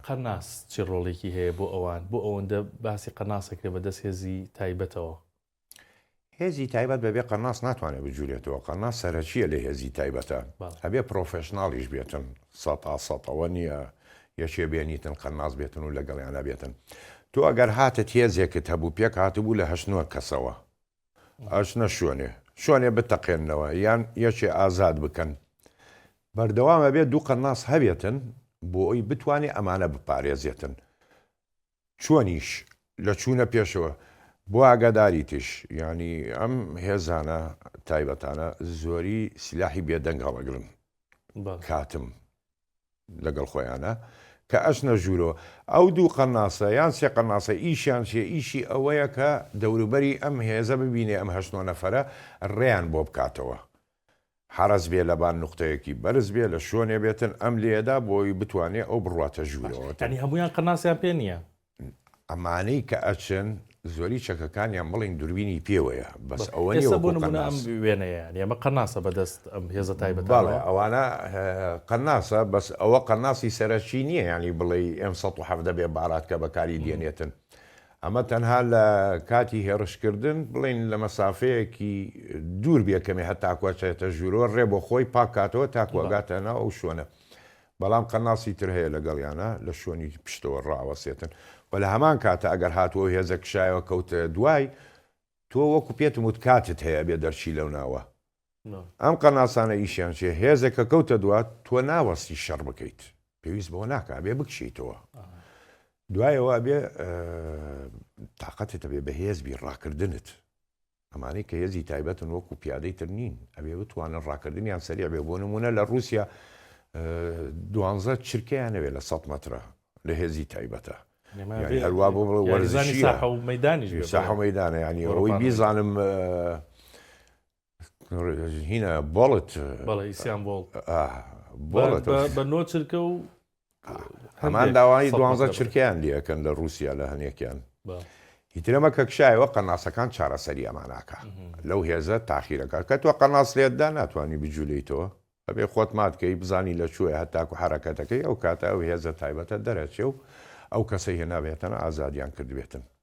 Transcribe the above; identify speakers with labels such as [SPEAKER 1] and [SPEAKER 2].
[SPEAKER 1] قەرناس چ ڕۆڵێکی هەیە بۆ ئەوان؟ بۆ ئەوەندە باسی قەرناس ئەکرێ بە دەست هێزی تایبەتەوە؟
[SPEAKER 2] هێزی تایبەت بەبێ قەرناس ناتوانێ بجولێتەوە، قەرناس سەرەکییە لە هێزی تایبەتە، ئەبێ پرۆفێشناڵیش بێتن، سەتا سەتەوە نییە یەکێ بێنیتن قەرناس بێتن و لەگەڵیانا بێتن. تۆ ئەگەر هاتت هێزێکت هەبوو، پێک هاتبوو لە هەشت نۆ کەسەوە، ئەچنە شوێنێ شوێنێ بتەقێننەوە یان یەکێ ئازاد بکەن. بەردەوام ئەبێ دوو قەناس هەبێتن بۆ ئەوی بتوانێ ئەمانە بپارێزێتن. چۆنیش، لە چوونە پێشەوە بۆ ئاگاداریتیش، یانی ئەم هێزانە تایبەتانە زۆری سلاحی بێدەنگ هەڵەگرن. کاتم. لەگەڵ خۆیانا کە ئەچنە ژوورۆ ئەو دوو قەناسە یان سێ قەناسە ئیشیان چیە ئیشی ئەوەیە کە دەوروبەری ئەم هێزە ببینێ ئەم هەشت نۆ نەفەرە ڕێیان بۆ بکاتەوە حەرەس بێ لەبان نوقتەیەکی بەرز بێ لە شۆنێ بێتن ئەم لێدا بۆی بتوانێ ئەو بڕواتە ژوورەوە. یانی هەموویان قەناسیان
[SPEAKER 1] پێ نیە؟ ئەمانەی
[SPEAKER 2] کە ئەچن زۆری چەکەکانیان بڵین دوربینی پێوەیە بەس ئەوە ئێستا بۆ نمونە ئەم
[SPEAKER 1] وێنەیە ئێمە قەناسە بەدەست ئەم هێزە تایبەت بەڵێ ئەوانە
[SPEAKER 2] قەناسە بەس ئەوە قەناسی سەرەکی نییە ینی بڵێ ئەم 1970 بێ بارات کە بەکاری دێنێتن ئەمە تەنها لە کاتی هێڕشکردن بڵین لە مەسافەیەکی دوور بێکەمێ هەتاکوچێتە ژورۆ ڕێ بۆ خۆی پاکاتەوە تاکوگاتەنا ئەو شوێنە بەڵام قەناسی تر هەیە لەگەڵیانا لە شوێنی پشتەوە ڕائەوەسێتن و لە هەمان کاتە ئەگەر هاتووە و هێزە کشایەوە کەوتە دوای تۆ وەکو پێتم وت کاتت هەیە ئەبێ دەرچی لەو ناوە ئەم قەناسانە ئیشیان چیە هێزێک کە کەوتە دوات تۆ ناوەستی شەڕ بکەیت پێویست بەوە ناکە ئەبێ بکشیتەوە دوایەوە ئەبێ تااقەتت ئەبێ بەهێزبی ڕاکردنت ئەمانەی کە هێزی تایبەتن وەکو پیادەی تر نین ئەبێ بتوانن ڕاکردنیان سەریع بێ بۆ نمونە لە ڕوسیا دوانزە چرکەیان نەوێت لە سەد مەترە لە هێزی تایبەتە هەروا بۆ وەرزانی ساحە و مەدانی ساحە مەدانە ینی ئەوەی بیزانم هینە بۆڵت بەڵێ ئیسیان بۆڵ بۆڵت بە نۆ
[SPEAKER 1] چرکە و
[SPEAKER 2] هەمان داوای دوانزە چرکەیان لەکەن لە رووسیا لە هەنێکیان هیترەمە کە کشایەوە قەناسەکان چارەسەری ئەماناکە لەو هێزە تاخیرەکە کە تۆ قەناس لێتدا ناتوانانی بجوولەی تۆ ئەبێ خۆت ماتکەی بزانی لە چوێ هەتاکو حرەکەتەکەی ئەو کاتە ئەو هێزە تایبەتە دەرەچێ و ئەو کەسەی هێنابێتەنە ئازادیان کردبێتن